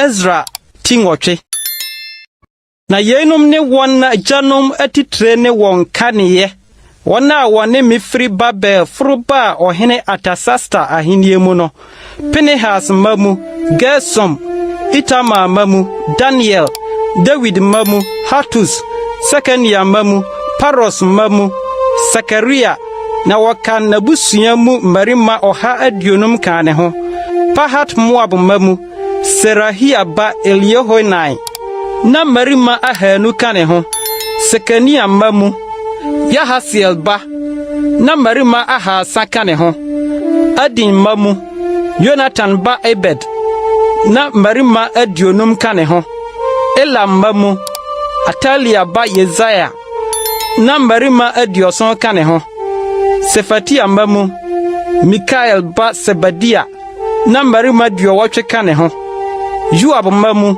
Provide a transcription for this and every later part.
Ezra ti nwɔtwe. Na yeinom ne wɔn agyanom atitire ne wɔn kaneɛ, wɔn a wɔne me firi Babel foro baa ɔhene Artasasta ahennie mu no, Pinehas mma mu, Gersom, Itamar mma mu, Daniel, Dawid mma mu, Hatus, Sekania mma mu, Paros mma mu, Sakaria, na wɔkan n'abusua mu mmarima ɔha aduonum kaa ne ho, Pahat-Moab mma mu, Serahia ba Eliehoenai, Ná mmarima ahaanu ka ne ho, Sekania mma mu, Yahasiel ba, na mmarima ahaasa ka ne ho, Adin mma mu, Yonatan ba Ebed, na mmarima aduonum ka ne ho, Elam mma mu, Atalia ba Yesaia, na mmarima aduɔson ka ne ho, Sefatia mma mu, Mikael ba Sebadia, na mmarima aduɔwɔtwe ka ne ho. Yoab mma mu,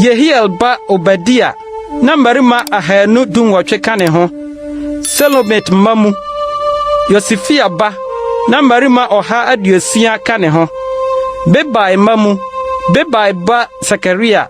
Yehiel ba Obadia, na mmarima ahanu dunwɔtwe ka ne ho. Selomit mma mu, Yosifia ba, na mmarima ɔha aduosia ka ne ho. Bebai mma mu, Bebai ba Sakaria,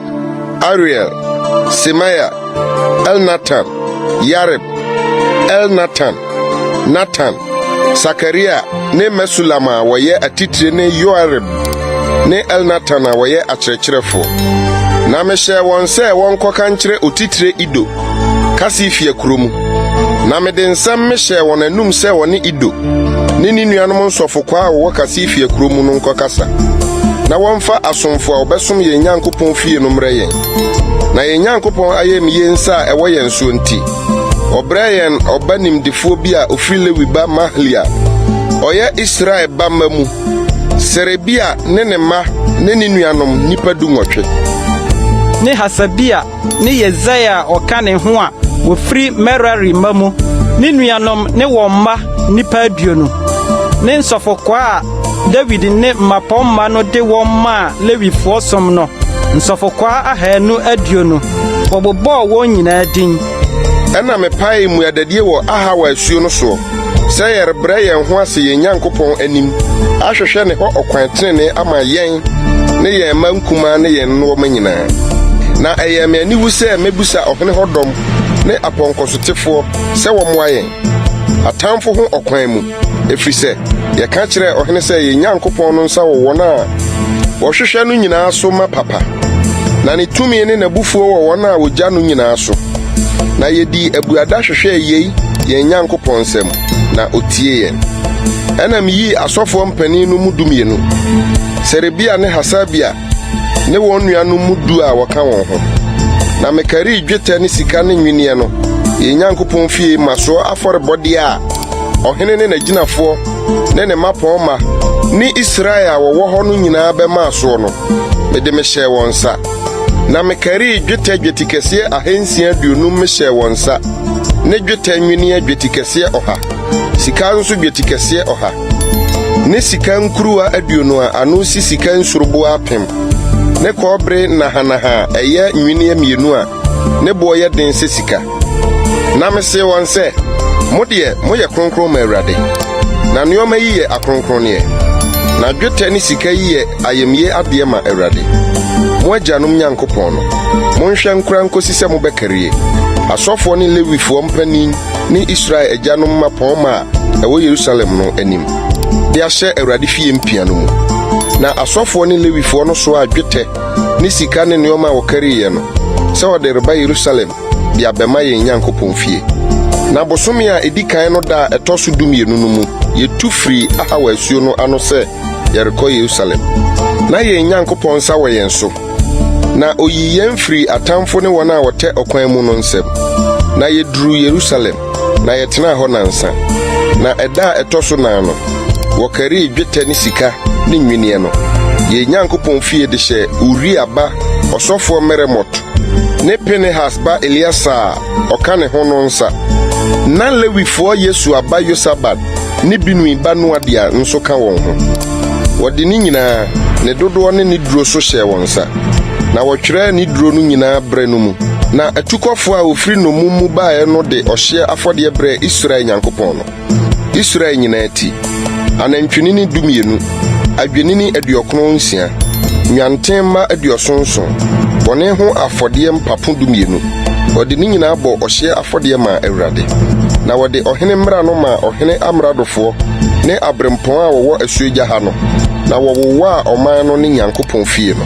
Ariel, Semaia, Elnatan, Yarib, Elnatan, Natan, Sakaria ne Mesulam a wɔyɛ atitire ne Yoarib ne Elnatan a wɔyɛ akyerɛkyerɛfoɔ. Na mehyɛɛ wɔn sɛ wɔnkɔka nkyerɛ otitire Ido Kasifia kuro mu, na mede nsɛm mehyɛɛ wɔn anum sɛ wɔne Ido ne ne nuanom nsɔfokwaa a wɔwɔ Kasifia kuro mu no nkɔkasa, na wɔmfa asomfo a wɔbɛsom yɛn Nyankopɔn fie no mmrɛ yɛn. Na yɛn Nyankopɔn ayamye nsa a ɛwɔ yɛn soɔ nti, ɔbrɛɛ yɛn ɔba nimdefoɔ bi a ɔfiri Lewi ba Mahli a ɔyɛ Israel ba mma mu, Serebia ne ne mma ne ne nuanom nnipa dunwɔtwe. ne Hasabia ne Yesaia a ɔka ne ho a wɔfiri Merari mma mu, ne nuanom ne wɔn mma nnipa aduonu, ne nsɔfokwaa a Dawid ne mmapɔmma no de wɔn maa Lewifoɔ som no, nsɔfokwaa ahanu aduonu. Wɔbobɔɔ wɔn nyinaa din. Ɛnna mepaee mmuadadie wɔ Ahawa asuo no soɔ. Sɛ yɛrebrɛ yɛn ho ase yɛn Nyankopɔn anim ahwehwɛ ne hɔ ɔkwan trenee ama yɛn ne yɛn mma nkumaa ne yɛn nnoɔma nyinaa. Na ɛyɛɛ me aniwu sɛ mɛbisa ɔhene hɔ dɔm ne apɔnkɔsotefoɔ sɛ wɔmmoa yɛn, atamfo ho ɔkwan mu, ɛfiri sɛ yɛka kyerɛɛ ɔhene sɛ yɛn Nyankopɔn no nsa wɔ wɔn a wɔhwehwɛ no nyinaa so ma papa, na ne tumi ne n'abufuo wɔ wɔn a wɔgya no nyinaa so. Na yedii abuada hwehwɛɛ yei yɛn Nyankopɔn nsam, na otiee yɛn. Ɛnna miyii asɔfoɔ mpanin no mu dumienu, Serebia ne Hasabia ne wɔn nuanom mu du a wɔka wɔn ho, na mekarii dwetɛ ne sika ne nnwenneɛ no yɛn Nyankopɔn fie mmasoɔ afɔrebɔdeɛ a ɔhene ne n'agyinafoɔ ne ne mmapɔmma ne Israel a wɔwɔ hɔ no nyinaa bɛmaa soɔ no, mede mehyɛɛ wɔn nsa. Na mekarii dwetɛ dwetikɛseɛ ahansia aduonum mehyɛɛ wɔn nsa, ne dwetɛ nnweneɛ dwetikɛseɛ ɔha, sika nso dwetikɛseɛ ɔha, ne sika nkuruwa aduonu a ano si sika nsuruboa apem, ne kɔbere nnahanaha a ɛyɛ nnweneɛ mmienu a ne boɔ yɛ den sɛ sika. Na mesee wɔn sɛ, Mo deɛ, moyɛ kronkron ma Awurade, na nneɛma yi yɛ akronkronneɛ. Na dwetɛ ne sika yi yɛ ayamye adeɛ ma Awurade, mo agyanom Nyankopɔn no. Monhwɛ nkora nkɔsi sɛ mobɛkarie. Asɔfoɔ ne Lewifoɔ mpanin ne Israel agyanom mmapɔmma a ɛwɔ Yerusalem no anim de ahyɛ Awurade fie mpia no mu. Na asɔfoɔ ne Lewifoɔ no soaa dwetɛ ne sika ne nneɛma a wɔkariiɛ no sɛ wɔde reba Yerusalem de abɛma yɛn Nyankopɔn fie. Na bosome a edi kan no da a ɛtɔ so dumienu no mu, yetu firii Ahawa asuo no ano sɛ yɛrekɔ Yerusalem. Ná yɛn Nyankopɔn nsa wɔ yɛn so, na oyii yɛn firii atamfo ne wɔn a wɔtɛ ɔkwan mu no nsam, na yeduruu Yerusalem. na yɛtenaa hɔ nnansa. Na ɛda a ɛtɔ so nan no, wɔkarii dwetɛ ne sika ne nnwinneɛ no. Yɛn Nyankopɔn fie de hyɛɛ Uria ba ɔsɔfoɔ Meremot ne Pinehas ba Eleasar a ɔka ne ho no nsa. Ná Lewifoɔ Yesua ba Yosabad ne Binui ba Noadia nso ka wɔn ho. Wɔde ne nyinaa, ne dodoɔ ne ne duro so hyɛɛ wɔn nsa, na wɔtwerɛɛ ne duro no nyinaa berɛ no mu. Na atukɔfoɔ a wɔfiri nnommum mu baeɛ no de ɔhyeɛ afɔdeɛ brɛɛ Israel Nyankopɔn no, Israel nyinaa ti, anantwinini dumienu, adwennini aduɔkron nsia, nnwanten mma aduɔson nson, bɔne ho afɔdeɛ mpapo dumienu. Wɔde ne nyinaa bɔɔ ɔhyeɛ afɔdeɛ maa Awurade. Na wɔde ɔhene mmara no maa ɔhene amradofoɔ ne aberempɔn a wɔwɔ asuogya ha no, na wɔwowaa ɔman no ne Nyankopɔn fie no.